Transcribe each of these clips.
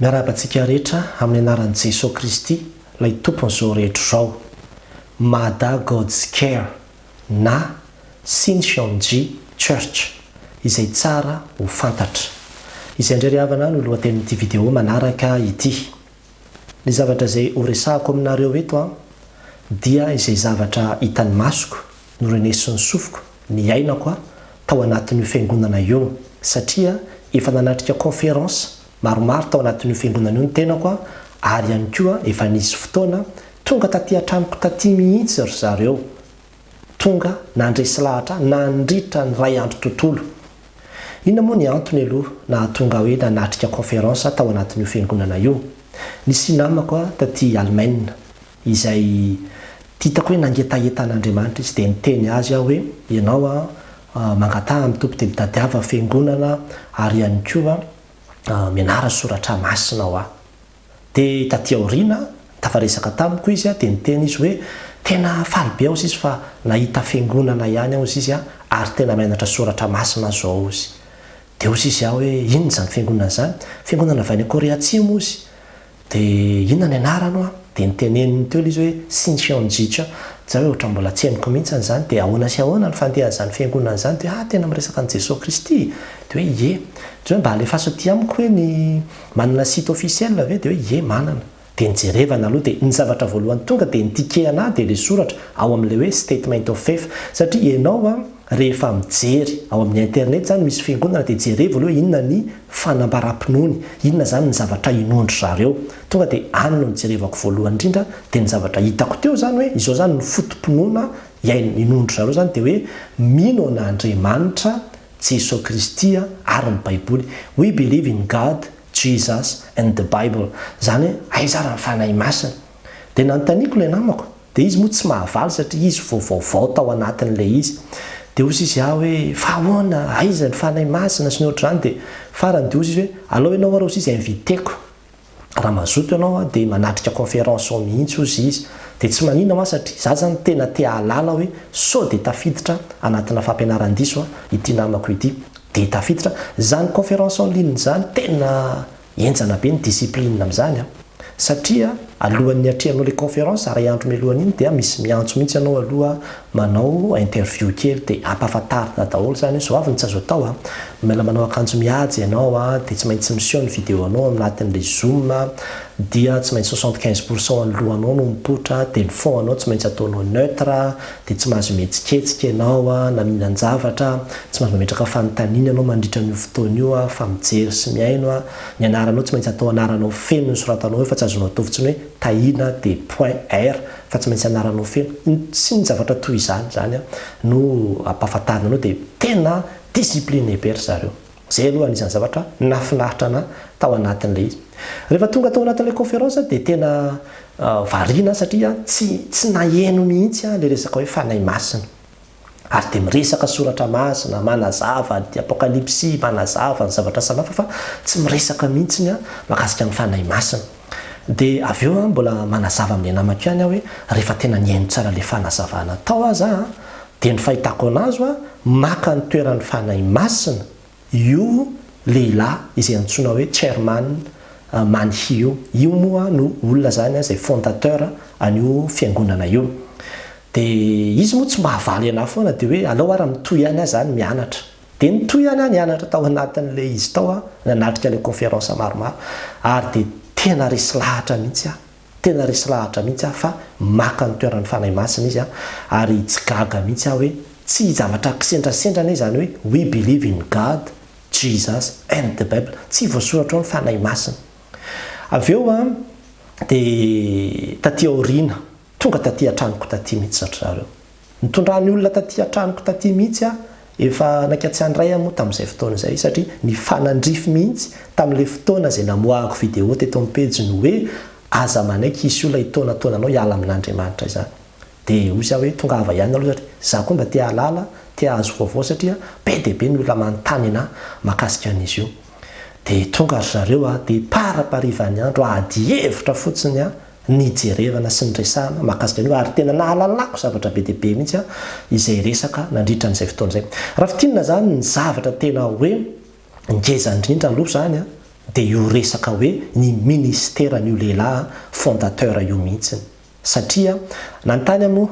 Miarahaba antsika rehetra amin'ny anaran'i Jesoa Kristy ilay Tompon'izao rehetra izao. Mada God's Care na Shincheonji Church, izay tsara ho fantatra. Izay indray ry havana no lohatenin'ity video manaraka ity. Ny zavatra izay horesahako aminareo eto dia izay zavatra hitan'ny masoko Norenesin'ny sofiko, niainako aho tao anatin'io fiangonana io, satria efa nanatrika conférence maromaro tao anatin'io fiangonana io ny tenako ary ihany koa efa nisy fotoana tonga taty an-tranoko taty mihitsy ry zareo, tonga nandresy lahatra ahy nandritra ny iray andro tontolo. Inona moa ny antony aloha nahatonga ahy hoe nanatrika conférence aho tao anatin'io fiangonana io? Nisy namako taty Alemaina. izay titako hoe nangetaheta an'Andriamanitra izy dia niteny azy aho hoe, Ianao aho mangataha amin'ny Tompo dia mitadiava fiangonana ary ihany koa mianara ny soratra masina ho ahy. Dia taty aoriana tafaresaka tamiko izy dia niteny izy hoe tena faly be aho ziz fa nahita fiangonana ihany aho ziz ary tena mianatra soratra masina zao oz. Dia oz izy aho hoe inona izany fiangonana izany? Fiangonana avy any Korea Atsimo oz. Dia inona ny anarany hoa? Dia noteneniny teo ilay izy hoe Shin Cheon Ji Cha. Izaho hoe ohatran'ny mbola tsy henoko mihitsy an'izany. Dia ahoana sy ahoana ny fandehan'izany fiangonana izany? Dia hoe ah, tena miresaka an'i Jesoa Kristy? Dia hoe ie. Dia hoe mba alefaso aty amiko hoe ny manana site officiel ve? Dia hoe ie manana. Dia nijerevana aloha dia ny zavatra voalohany tonga dia ny tikehana ahy dia ilay soratra ao amin'ilay hoe statement of faith. Satria ianao an. Rehefa mijery ao amin'ny internet izany misy fiangonana dia jerevo aloha inona ny fanambaram-pinoany, inona izany ny zavatra inoan-dry zareo. Tonga dia any no nijerevako voalohany indrindra dia ny zavatra hitako teo izany hoe izao izany ny foto-pinoana iain, inoan-dry zareo izany dia hoe mino an'Andriamanitra, Jesoa Kristy ary ny Baiboly. We believe in God, Jesus and the Bible. Izany hoe aiza ary ny Fanahy Masina? Dia nanontaniako ilay namako. Dia izy moa tsy mahavaly satria izy vao vaovao tao anatin'ilay izy. Dia hozy izy ah hoe, fa ahoana, aiza ny Fanahy Masina sy ny ohatr'izany. Dia farany dia hozy izy hoe, alao ianao ary hozy izy inviter-ko. Raha mazoto ianao ah dia manatrika conférence ao mihitsy hozy izy. Dia tsy manina ho aho satria za zany tena te hahalala hoe sao dia tafiditra anatina fampianaran-diso ah ity namako ity. Dia tafiditra. Zany conférence en ligne zany tena Henjana be ny discipline amin'izany an! Satria alohan'ny hiatrehanao ilay conférence, iray andro mialohan'iny, dia misy miantso mihitsy anao aloha manao interview kely dia ampahafantarina daholo izany hoe izao avy ny tsy azo atao an! Mila manao akanjo mihaja ianao an! dia tsy maintsy miseho ny video-nao ao anatin'ilay zoom an! dia tsy maintsy soixante quinze pourcent an'ny lohanao no mipoitra an! dia ny fond-nao tsy maintsy ataonao neutre an! dia tsy mahazo mihetsiketsika ianao na mihinan-javatra, tsy mahazo mametraka fanontaniana ianao mandritra an'io fotoana io fa mijery sy mihaino ny anaranao, tsy maintsy atao anaranao feno ny soratanao eo fa tsy azonao atao fotsiny hoe Tahiana dia point r fa tsy maintsy anaranao feno ny sy ny zavatra toy izany, izany no ampahafantarina anao dia tena discipline be ry zareo. Izay aloha anisan'ny zavatra nahafinaritra anà tao anatin'ilay izy. Rehefa tonga tao anatin'ilay conférence aho dia tena variana aho satria tsy tsy naheno mihitsy aho ilay resaka hoe Fanahy Masina. Ary dia miresaka soratra masina, manazava ny Apokalypsy, manazava ny zavatra samihafa fa tsy miresaka mihitsy aho mahakasika ny Fanahy Masina. Dia avy eo mbola manazava amin'ilay namako ihany aho hoe rehefa tena nihaino tsara ilay fanazavana tao aza aho dia ny fahitako anazy hoa maka ny toeran'ny Fanahy Masina io lehilahy izay antsoina hoe Chairman Man Hee io. Io moa no olona izany izay fondateur an'io fiangonana io. Dia izy moa tsy mahavaly an'ahy foana dia hoe aleo ara mitohy any aho izany mianatra. Dia nitohy ihany aho nianatra tao anatin'ilay izy tao aho, nanatrika ilay conférence maromaro, ary dia tena resy lahatra mihitsy aho, tena resy lahatra mihitsy aho fa maka ny toeran'ny Fanahy Masina izy an, ary tsy gaga mihitsy aho hoe tsy zavatra kisendrasendra anie izany hoe we believe in God, Jesus and the Bible, tsy voasoratra ao ny Fanahy Masina. Avy eo an, dia taty aoriana, Tonga taty an-tranoko taty mihitsy zatra zareo. Nitondra ny olona taty an-tranoko taty mihitsy aho, efa naika tsy handray aho moa tamin'izay fotoana izay satria nifanandrify mihitsy tamin'ilay fotoana izay namoahako video teto amin'ny pejy ny hoe aza manaiky hisy olona hitaonataona anao hiala amin'Andriamanitra izany. Dia hoy aho hoe tongava ihany aloha satria za koa mba te hahalala, te hahazo vaovao satria be dia be ny olona manontany anah mahakasika an'izy io. Dia tonga ry zareo a, dia paraparivan'ny andro, ady hevitra fotsiny aho nijerevana sy niresahana mahakasika an'io ary tena nahalalako zavatra be dia be mihitsy izay resaka nandritra an'izay fotoana izay. Raha fintinina izany ny zavatra tena hoe ngeza indrindra aloha izany dia io resaka hoe ny ministeran'io lehilahy fondateur io mihitsy satria nanontany aho moa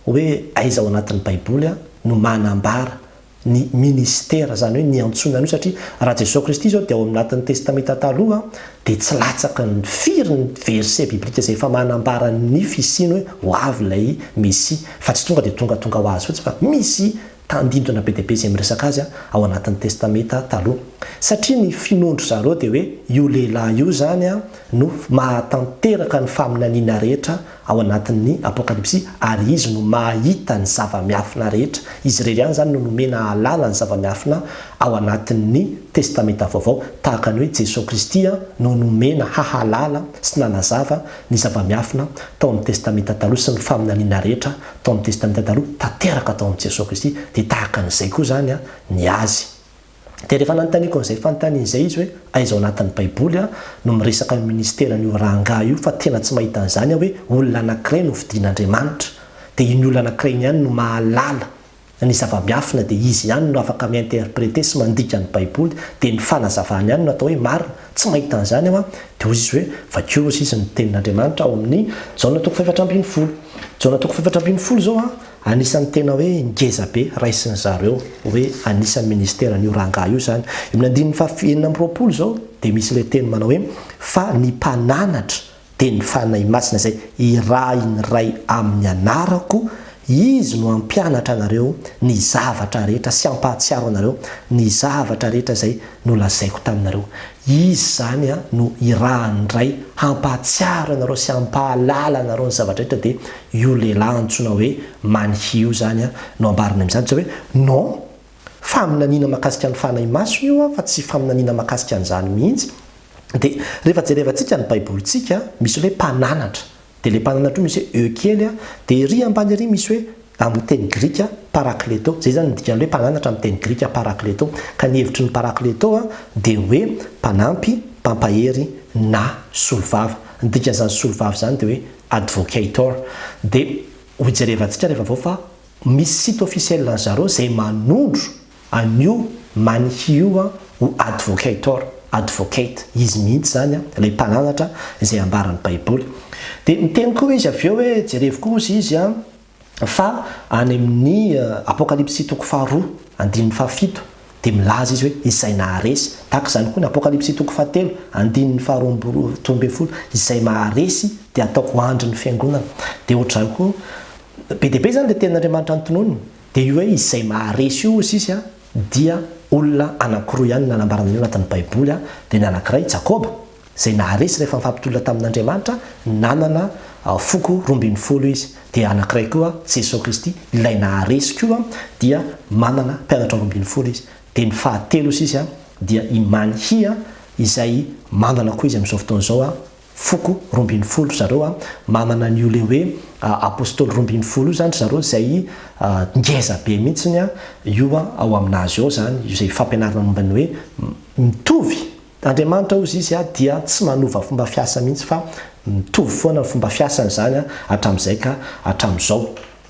Hoe aiza ao anatin'ny baiboly no manambara ny ministera izany hoe ny antsoina an'io satria raha Jesoa Kristy izao dia ao anatin'ny testameta taloha dia tsy latsaky ny firy ny verset biblika izay efa manambara ny fisiany hoe ho avy ilay mesia fa tsy tonga dia tongatonga ho azy fotsiny fa misy tandindona be dia be izay miresaka azy ao anatin'ny Testamenta Taloha. Satria ny finoan-dry zareo dia hoe io lehilahy io izany no mahatanteraka ny faminaniana rehetra ao anatin'ny Apokalypsy ary izy no mahita ny zava-miafina rehetra. Izy irery ihany izany no nomena ahalala ny zava-miafina ao anatin'ny Testamenta Vaovao, tahaka ny hoe Jesoa Kristy no nomena hahalala sy nanazava ny zava-miafina tao amin'ny Testamenta Taloha sy ny faminaniana rehetra tao amin'ny Testamenta Taloha tanteraka tao amin'i Jesoa Kristy, dia tahaka an'izay koa izany ny Azy. Dia rehefa nanontaniako an'izay fanontaniana izay izy hoe, aiza ao anatin'ny Baiboly no miresaka io ministeran'io rangahy io fa tena tsy mahita an'izany aho hoe olona anankiray no fidin'Andriamanitra, dia iny olona anankiray iny ihany no mahalala. Ny zava-miafina dia izy ihany no afaka mi-interpreter sy mandika ny baiboly, dia ny fanazavany ihany no atao hoe marina, tsy mahita an'izany aho an, dia hoy izy hoe, vakio hozy izy ny tenin'Andriamanitra ao amin'ny Jaona toko fahefatra ambin'ny folo, Jaona toko fahefatra ambin'ny folo izao an, anisan'ny tena hoe ngeza be raisin'ny zareo hoe anisan'ny ministeran'io rangahy io izany, eo amin'ny andininy faha enina amby roapolo izao dia misy ilay teny manao hoe, fa ny mpananatra Dia ny Fanahy Masina izay irahin'ny Ray amin'ny anarako, Izy no hampianatra anareo ny zavatra rehetra sy hampahatsiaro anareo ny zavatra rehetra izay nolazaiko taminareo. Izy izany no irahan'ny Ray hampahatsiaro anareo sy hampahalala anareo ny zavatra rehetra dia io lehilahy antsoina hoe Manhi io izany no ambarany amin'izany. Tsy hoe non. Faminaniana mahakasika ny fanahimasony io an, fa tsy faminaniana mahakasika an'izany mihitsy. Dia rehefa jerevantsika ny Baibolintsika, misy ilay hoe mpananatra. Dia ilay mpananatra io misy hoe e kely an, dia ery ambany ery misy hoe, amin'ny teny grika, parakleto. Izay izany ny dikan'ny hoe mpananatra amin'ny teny grika, parakleto. Ka ny hevitry ny parakleto an, dia hoe mpanampy, mpampahery, na solovava. Ny dikan'izany solovava izany dia hoe advocator. Dia hojerevantsika rehefa avy eo fa Misy site officiel an zareo zay manondro an io Manihy io an ho advocator, advocate, izy mihitsy zany an, ilay mpananatra izay ambara ny baiboly. Dia miteny koa izy avy eo hoe jerevo koa ozy izy an fa any amin ny apokalipsy toko faharoa andininy fahafito dia milaza izy hoe izay naharesy, tahaka izany koa ny apokalipsy toko fahatelo andininy faharoa amby roa ambin'ny folo izay maharesy dia ataoko andry ny fiangonana dia ohatr'izany koa Be dia be izany dia tenin'Andriamanitra notononiny. Dia io hoe izay maharesy io, hoy Sisy, dia olona anankiroa ihany no nanambarana an'io anatin'ny Baiboly, dia ny anankiray i Jakoba, izay naharesy rehefa nifampitolona tamin'Andriamanitra, nanana foko roa ambin'ny folo izy. Dia anankiray koa Jesoa Kristy, ilay naharesy koa, dia manana mpianatra roa ambin'ny folo izy. Dia ny fahatelo, hoy Sisy, dia i Manhia, izay manana koa izy amin'izao fotoana izao, foko roa ambin'ny folo ry zareo an, manana an'io le hoe apostoly roa ambin'ny folo io zany ry zareo izay ngeza be mihitsiny an, io an ao amin'azy ao zany io zay fampianarana momba ny hoe mitovy Andriamanitra ozy izy an dia tsy manova fomba fiasa mihitsy fa mitovy foana ny fomba fiasany zany an hatramin'izay ka hatramin'izao.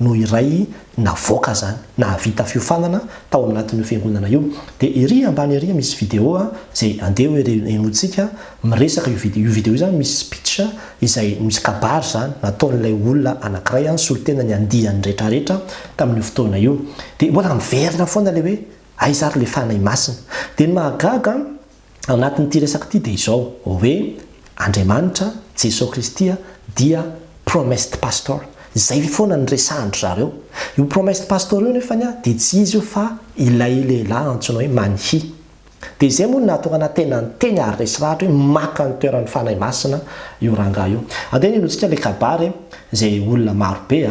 no iray navoaka zany nahavita fiofanana tao anatin'io fiangonana io dia ery ambany ery misy video zay andeha hoe renointsika miresaka io video io video io zany misy speech izay misy kabary zany nataon'ilay olona anakiray any solontena ny andiany rehetra rehetra tamin'io fotoana io dia mbola miverina foana le hoe aiza ary le fanahy masina dia ny mahagaga anatin'ity resaka ity dia izao, hoe Andriamanitra, Jesoa Kristy dia promised pastor. Izay foana no resahan-dry zareo. Io promised pastor io nefany dia tsy izy io fa ilay lehilahy antsoina hoe Manhi. Dia izay moa no nahatonga anahy tena niteny ary resy lahatra hoe maka ny toeran'ny Fanahy Masina io rangahy io. Andeha hinoantsika ilay kabary izay olona marobe.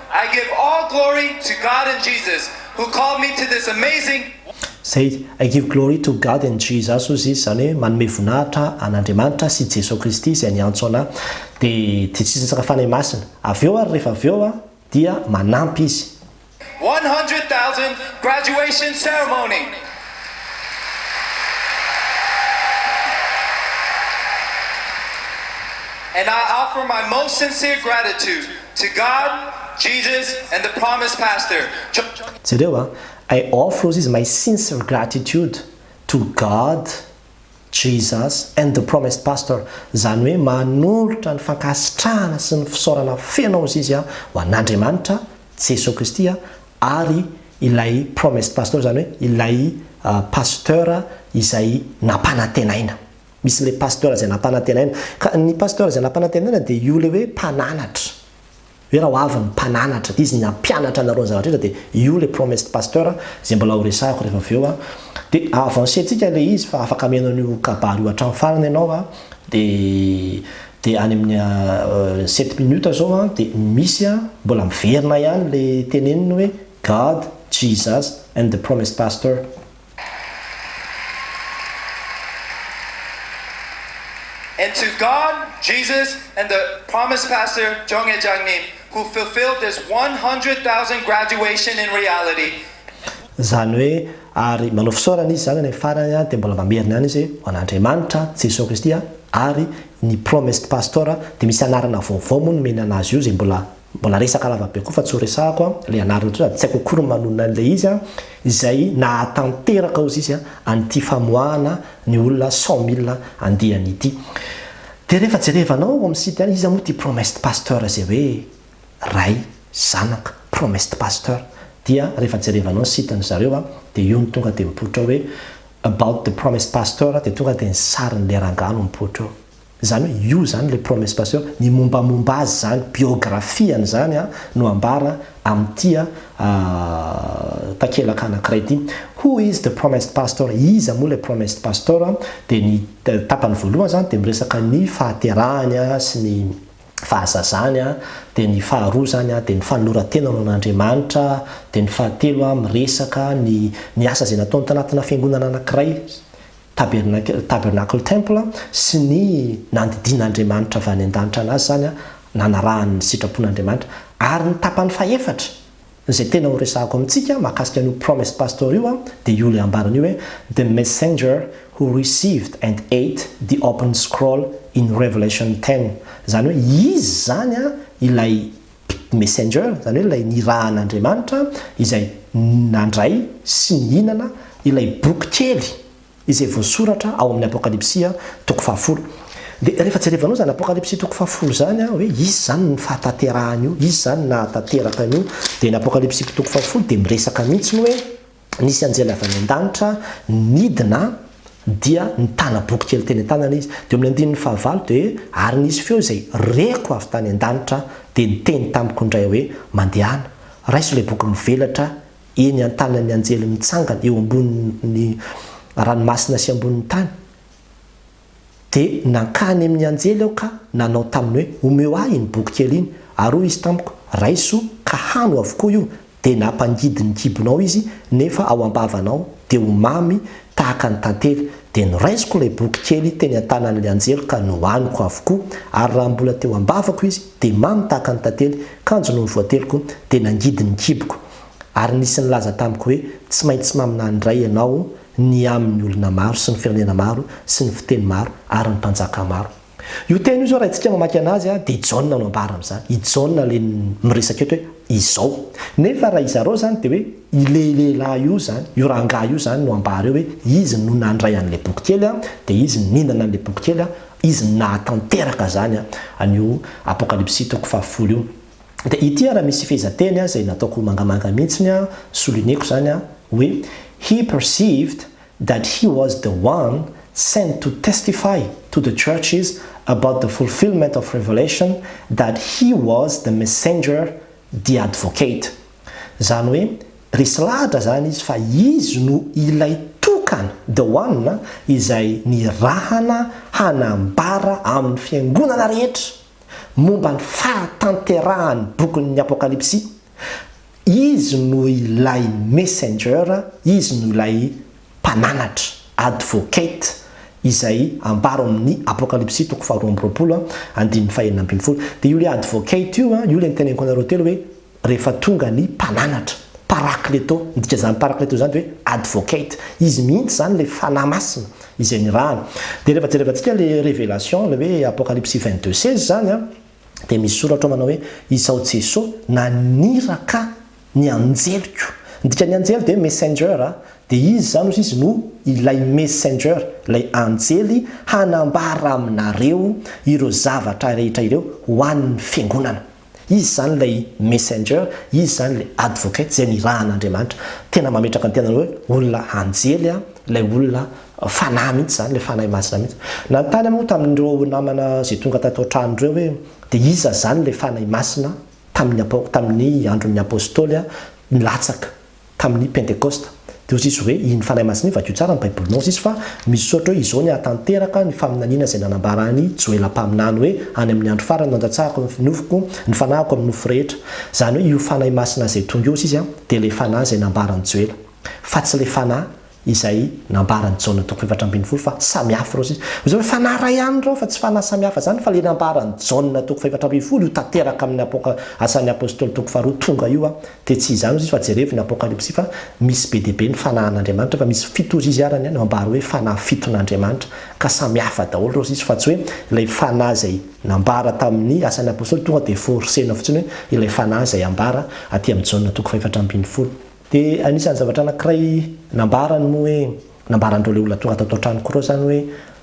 I give all glory to God and Jesus who called me to this amazing. Say, I give glory to God and Jesus hoy izy, izany hoe manome voninahitra an'Andriamanitra sy Jesoa Kristy izay niantso anà. Dia dia tsy sasatra Fanahy Masina. Avy eo ary rehefa avy eo dia manampy izy. One hundred thousand graduation ceremony. And I offer my most sincere gratitude To God, Jesus and the promised pastor, John. Jereo a! I offers is my sincere gratitude to God, Jesus and the promised pastor, izany hoe manolotra ny fankasitrahana sy ny fisaorana feno ao izy aho ho an'Andriamanitra, Jesoa Kristy ary ilay promised pastor izany hoe ilay Pasteur izay nampanantenaina. Misy ilay pasteur izay nampanantenaina. Ka ny pasteur izay nampanantenaina dia io ilay hoe mpananatra. Hoe raha ho avy ny mpananatra, dia izy ny hampianatra anareo ny zavatra rehetra, dia io ilay promised pasteur izay mbola ho resahiko rehefa avy eo. Dia avancer-tsika ilay izy fa afaka mihaino an'io kabary io hatramin'ny farany ianao. Dia dia any amin'ny sept minutes izao dia misy mbola miverina ihany ilay teneniny hoe God, Jesus and the promised pastor. And to God, Jesus and the promised pastor Jonghae Jangnim who fulfilled this one hundred thousand graduation in reality, Izany hoe, ary manao fisaorana izy izany any amin'ny farany dia mbola mamerina ihany izy hoe, ho an'Andriamanitra, Jesoa Kristy ary ny promised pastor dia misy anarana vaovao moa nomeny an'azy io izay mbola Mbola resaka lava be koa fa tsy ho resahako an, ilay anarany ity sady tsy haiko akory ny manonona an'ilay izy an, izay nahatanteraka hozy izy an, an'ity famoahana ny olona cent mille andiany ity. Dia rehefa jerevanao ao amin'ny site any, iza moa ity promised pasteur izay hoe Ray, Zanaka, promised pasteur? dia rehefa jerevanao ny site-ny zareo an, dia io no tonga dia mipoitra ao hoe about the promised pasteur dia tonga dia ny sarin'ilay rangahy no mipoitra eo. Izany hoe io izany ilay promesse passion, ny mombamomba azy izany, biographie an'izany no ambara amin'ity takelaka anankiray ity. Who is the promised pastor? Iza moa ilay promised pastor? Dia ny tapany voalohany izany dia miresaka ny fahaterahany sy ny fahazazany, dia ny faharoa izany dia ny fanoloran-tena ho an'Andriamanitra, dia ny fahatelo miresaka ny ny asa izay nataony tanatina fiangonana anankiray. Tabernacle, Tabernacle Temple, sy ny nandidian'Andriamanitra avy any an-danitra anazy izany, nanarahany ny sitrapon'Andriamanitra. Ary ny tapany fahefatra, izay tena ho resahako amintsika mahakasika an'io Promised Pastor io, dia io ilay ambarany io hoe, The messenger who received and ate the opened scroll in Revelation ten, izany hoe izy izany ilay, Messenger, izany hoe ilay nirahan'Andriamanitra izay nandray sy nihinana ilay boky kely izay voasoratra ao amin'ny Apokalypsy toko fahafolo. Dia rehefa jerevanao izany Apokalypsy toko fahafolo izany an, hoe iza izany ny fahatanterahana io, iza izany nahatanteraka an'io, dia ny Apokalypsy toko fahafolo dia miresaka mihitsy ny hoe, Nisy anjely avy any an-danitra nidina dia nitana boky kely teny an-tanany izy. Dia eo amin'ny andininy fahavalo dia hoe, Ary nisy feo izay reko avy tany an-danitra dia niteny tamiko indray hoe, Mandehana, raiso ilay boky mivelatra eny an-tanan'ny anjely mitsangana eo ambonin'ny ranomasina sy ambonin'ny tany. Dia nankany amin' ny anjely aho ka nanao taminy hoe, Omeo ahy iny boky kely iny. Ary hoy izy tamiko, Raiso, ka hano avokoa io. Dia nampangidy ny kibonao izy, nefa ao am-bavanao, dia ho mamy tahaka ny tantely. Dia noraisiko ilay boky kely teny an-tanan' ilay anjely ka nohaniko avokoa. Ary raha mbola teo am-bavako izy, dia mamy tahaka ny tantely, kanjo nony voateliko, dia nangidy ny kiboko. Ary nisy nilaza tamiko hoe, Tsy maintsy maminany indray ianao, ny amin'ny olona maro sy ny firenena maro sy ny fiteny maro ary ny mpanjaka maro. Io teny io izao raha isika mamaky anazy dia Jaona no ambara amin'izany. I Jaona ilay miresaka eto hoe izao. Nefa raha izareo izany dia hoe ilay lehilahy io izany, io rangahy io izany no ambara eo hoe izy no nandray an'ilay boky kely dia izy no nihinana an'ilay boky kely, izy no nahatanteraka izany an'io Apokalypsy toko fahafolo io. Dia ity ary misy fehezanteny izay nataoko mangamanga mihitsy an, souligner-ko izany an, hoe He perceived that he was the one sent to testify to the churches about the fulfillment of revelation that he was the messenger the advocate. Izany hoe, resy lahatra izany izy fa izy no ilay tokana, the one, izay nirahana hanambara amin'ny fiangonana rehetra momba ny fahatanterahan'ny bokin'ny Apokalypsy, Izy no ilay Messenger, Izy no ilay Mpananatra, Advocate, izay ambaro amin'ny Apokalypsy toko faharoa amby roapolo, andininy fahenina ambin'ny folo. Dia io ilay Advocate io, io ilay niteneniko anareo telo hoe, Rehefa tonga ny mpananatra, parakleto, midika izany parakleto izany dia hoe advocate, izy mihitsy izany ilay Fanahy Masina izay nirahana. Dia rehefa jerevantsika ilay Revelation, ilay hoe Apocalypsy vingt deux seize izany an, dia misy soratra ao manao hoe, Izao Jeso naniraka ny anjeliko. Ny dikan'ny anjely dia messenger, dia izy izany hozy izy no ilay messenger, ilay anjely hanambara aminareo ireo zavatra rehetra ireo ho an'ny fiangonana. Izy izany ilay Messenger, Izy izany ilay Advocate izay nirahan'Andriamanitra. Tena mametraka ny tenany hoe olona anjely an, ilay olona fanahy mihitsy izany, ilay Fanahy Masina mihitsy. Nanontany aho moa tamin'ireo namana izay tonga tato an-trano ireo hoe dia iza izany ilay Fanahy Masina tamin'ny tamin'ny andron'ny Apostoly an, nilatsaka tamin'ny Pentekosta. Dia ho zisy hoe iny Fanahy Masina iny, vakio tsara ny Baibolinao zisy fa misaotra hoe izao ny hahatanteraka ny faminaniana izay nanambara an'i Joela mpaminany hoe any amin'ny andro farany nandatsahako ny nofoko, ny fanahiko amin'ny nofo rehetra. Izany hoe io Fanahy Masina izay tonga eo zisy dia ilay Fanahy izay nambaran'i Joela. Fa tsy ilay Fanahy izay nambaran'i Jaona toko efatra ambin'ny folo fa samihafa ireo sisa. Hoy izy hoe, Fanahy iray ihany ireo fa tsy fanahy samihafa izany, fa ilay nambaran'i Jaona toko fahefatra ambin'ny folo, io tanteraka amin'ny Apoka, Asan'ny Apostoly toko faharoa tonga io an, dia tsy izany hoy izy fa jerevo ny Apokalypsy fa misy be dia be ny fanahin'Andriamanitra fa misy fito hozy izy ary any no ambara hoe fanahy fiton'Andriamanitra ka samihafa daholo ireo sisa fa tsy hoe ilay fanahy izay nambara tamin'ny Asan'ny Apostoly tonga dia forcena fotsiny hoe ilay fanahy izay ambara aty amin'ny Jaona toko fahefatra ambin'ny folo. Dia anisan'ny zavatra anankiray nambarany moa hoe, nambaran'ireo le olona tonga tato an-trano Croix zany hoe,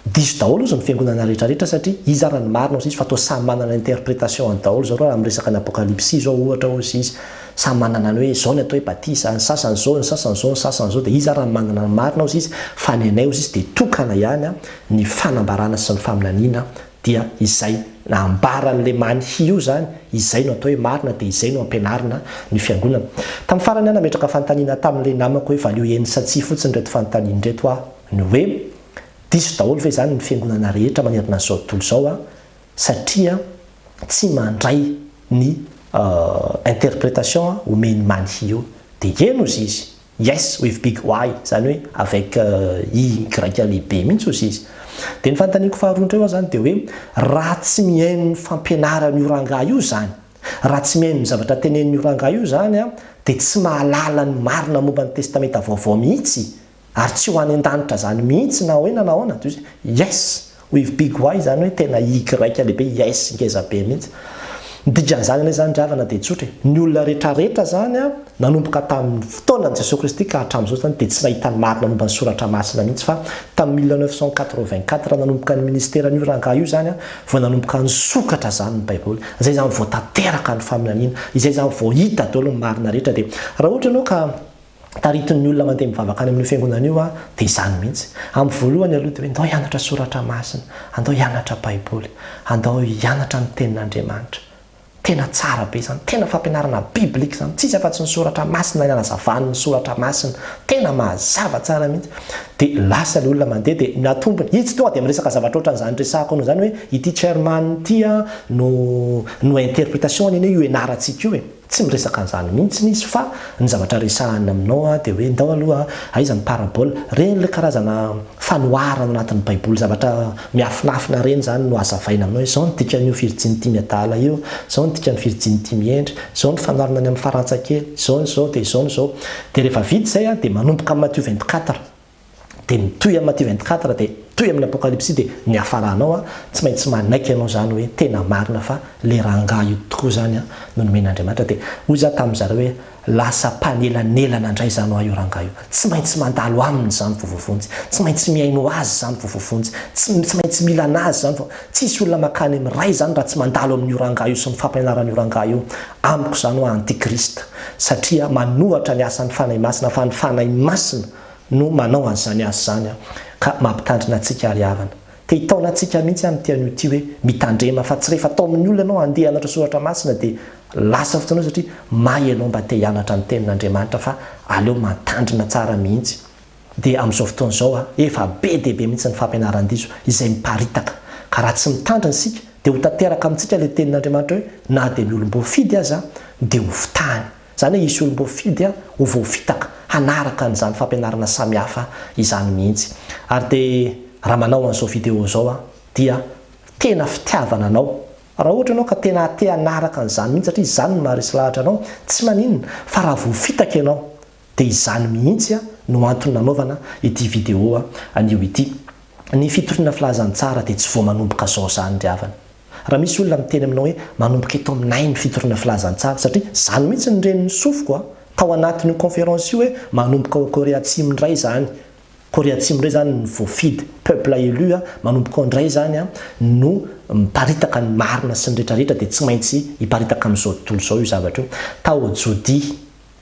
diso daholo hozy ny fiangonana rehetra rehetra satria iza ary ny marina hozy izy fa toa samy manana ny interpretation-ny daholo zao raha miresaka ny apokalypsy zao ohatra hozy izy, samy manana ny hoe izao ny atao hoe batisa, ny sasany izao, ny sasany izao, ny sasany izao, dia iza ary ny manana ny marina hozy izy fa ny anay hozy izy dia tokana ihany ny fanambarana sy ny faminaniana dia izay nambaran'i Lemany Hioa izany, izay no atao hoe marina dia izay no ampianarina ny fiangonana. Tamin'ny farany aho nametraka fanontaniana tamin'ilay namako hoe valio eny sa tsia fotsiny ireto fanontaniana ireto aho, ny hoe, Diso daholo ve izany ny fiangonana rehetra manerana izao tontolo izao a, satria tsy mandray ny interpretation omen'i Many Hioa? Dia eny hozy izy. Yes with big Y zany hoe avec Y grika lehibe mihitsy ozy izy. Dia ny fanontaniako faharoa indray hoa zany dia hoe raha tsy mihaino ny fampianaran'io rangahy io izany, raha tsy mihaino ny zavatra tenenin'io rangahy io izany dia tsy mahalala ny marina momba ny testamenta vaovao mihitsy ary tsy ho any an-danitra izany mihitsy na ahoina na ahoana? Yes. With big Y izany hoe tena Y lehibe, yes ngeza be mihitsy. Ny dikan'izany anie izany ry havana dia tsotra e. Ny olona rehetrarehetra izany, nanomboka tamin'ny fotoanan'i Jesoa Kristy ka hatramin'izao izany dia tsy nahita ny marina momba ny Soratra Masina mihitsy fa tamin'ny mille neuf cent quatre-vingt-quatre nanomboka ny minisiteran'io rangahy io izany vao nanomboka nisokatra izany ny Baiboly. Izay izany vao tanteraka ny faminaniana. Izay izany vao hita daholo ny marina rehetra dia raha ohatra ianao ka taritin'ny olona mandeha mivavaka any amin'io fiangonana io aho, dia izany mihitsy. Amin'ny voalohany aloha dia hoe andao hianatra soratra masina, andao hianatra Baiboly, andao hianatra ny Tenin'Andriamanitra. Tena tsara be izany, tena fampianarana biblika izany, tsy iza afa-tsy ny soratra masina ilay nanazavan'ny soratra masina, tena mazava tsara mihitsy. Dia lasa ilay olona mandeha dia natombony, izy tonga dia miresaka zavatra ohatran'izany resahako anao izany hoe ity Chairman ity no interpretation-ny anie io ianarantsika io e. Tsy miresaka an'izany mihitsiny izy fa ny zavatra resahany aminao dia hoe ndao aloha aiza ny parabole? Reny ilay karazana fanoharana ao anatin'ny baiboly zavatra miafinafina reny izany no hazavaina aminao hoe izao ny dikan'io virjiny tia miadala io, izao ny dikan'ny virjiny tia mihendry, izao ny fanoharana any amin'ny farantsa kely, izao ny izao dia izao ny izao. Dia rehefa vita izay dia manomboka amin'ny Matthieu vingt-quatre. dia mitohy am Matthieu 24 dia mitohy amin Apokalypsy dia miafara anao a, tsy maintsy manaiky anao zany hoe tena marina fa le rangah io tokoa zany a no nomen Andriamanitra dia hoy za tamin zareo hoe lasa mpanelanelana ndray zany hoa io rangah io, tsy maintsy mandalo aminy zany vo voavonjy, tsy maintsy mihaino azy zany vo voavonjy, tsy tsy maintsy mila anazy zany vo, tsisy olona makany am Ray zany raha tsy mandalo amin io rangah io sy ny fampianaran io rangah io, amiko zany hoa antichrist satria manohatra ny asan ny Fanahy Masina fa ny Fanahy Masina no manao an'izany asa izany an, ka mampitandrina antsika ary havana. Te hitaona antsika mihitsy an ity anio ity hoe mitandrema fa tsy rehefa atao amin'ny olona ianao handeha hianatra soratra masina dia lasa fotoana eo satria may ianao mba te hianatra ny tenin'Andriamanitra fa aleo mantandrina tsara mihitsy. Dia amin'izao fotoana izao an, efa be dia be mihitsy ny fampianaran-diso izay miparitaka, ka raha tsy mitandrina isika dia ho tanteraka amintsika ilay tenin'Andriamanitra hoe na dia ny olom-boafidy aza dia ho fitahany. Izany hoe hisy olom-boafidy ho voafitaka hanaraka an'izany fampianarana samihafa izany mihitsy. Ary dia raha manao an'izao video izao aho dia tena fitiavana anao. Raha ohatra ianao ka tena te hanaraka an'izany mihitsy satria izany no maharesy lahatra anao, tsy maninona fa raha voafitaka ianao dia izany mihitsy no antony nanaovana ity video anio ity. Ny fitoriana filazantsara dia tsy vao manomboka izao izany ry havana. Raha misy olona miteny aminao hoe manomboka eto aminay ny fitoriana filazantsara satria izany mihitsy ny renin'ny sofiko a! tao anatin'io conférence io hoe manomboka ao Korea Atsimo indray izany, Korea Atsimo indray izany ny voafidy, peuple élu a! manomboka ao indray izany a! no miparitaka ny marina sy ny rehetra rehetra dia tsy maintsy hiparitaka amin'izao tontolo izao io zavatra io. Tao Jodi.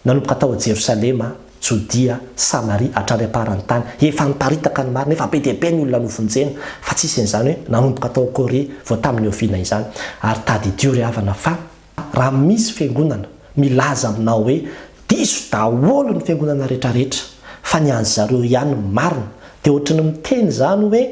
Nanomboka tao Jerosalema, Jodia, Samaria, hatrany am-paran'ny tany. Efa niparitaka ny marina, efa be dia be ny olona novonjena, fa tsy isin'izany hoe nanomboka tao Korea vao tamin'ny oviana izany. Ary tadidio ry havana fa raha misy fiangonana milaza aminao hoe diso daholo ny fiangonana rehetrarehetra fa ny an'zareo ihany no marina dia ohatry ny miteny izany hoe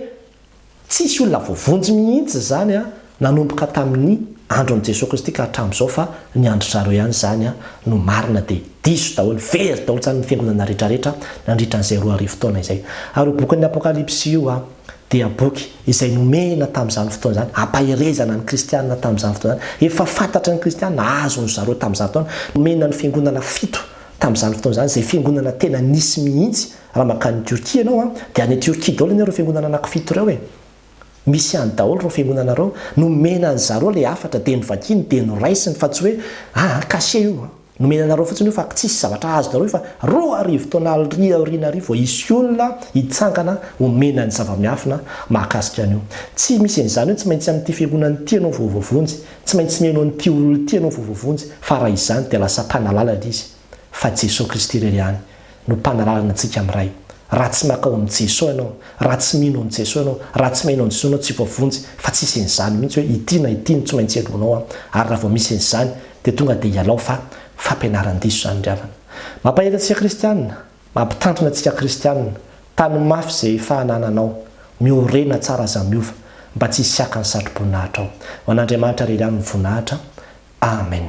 Tsisy olona voavonjy mihitsy izany an, nanomboka tamin'ny andron'i Jesoa Kristy ka hatramin'izao fa ny andrizareo ihany izany an no marina dia diso daholo, very daholo izany ny fiangonana rehetra rehetra nandritra an'izay roa arivo taona izay. Ary io bokin'ny Apokalypsy io an dia boky izay nomena tamin'izany fotoana izany hampaherezana ny kristiana tamin'izany fotoana izany, efa fantatry ny kristiana, azon-dry zareo tamin'izany fotoana, nomena ny fiangonana fito tamin'izany fotoana izany, izay fiangonana tena nisy mihitsy, Raha mankany Turquie ianao an, dia any Turquie daolo anie ireo fiangonana anaky fito ireo e! Misy any daolo ireo fiangonana ireo, nomena an zareo ilay hafatra dia novakiny dia noraisiny fa tsy hoe ah cachet io an! Nomena anareo fotsiny io fa tsisy zavatra azonareo io fa roa arivo taona ary aoriana ary vao hisy olona hitsangana homena ny zava-miafina mahakasika an'io! Tsy misy an'izany hoe tsy maintsy amin'ity fiangonana ity ianao vao voavonjy, tsy maintsy mihaino an'ity olona ity ianao vao voavonjy fa raha izany dia lasa mpanalala ilay izy fa Jesoa Kristy irery ihany no panalàlana antsika amin'ny Ray. Raha tsy makao amin'i Jeso ianao, raha tsy mino an'i Jeso ianao, raha tsy maino an'i Jeso ianao tsy voavonjy fa tsisy an'izany mihitsy hoe ity na ity no tsy maintsy helohinao an! ary raha vao misy an'izany dia tonga dia ialao fa fampianaran-diso izany ry havana. Mampahery antsika kristianina, mampitandrina antsika kristianina, tano mafy izay efa anananao, miorena tsara aza miova mba tsy hisiakan'ny satroboninahitra ao. Ho an'Andriamanitra irery ihany ny voninahitra. Amen.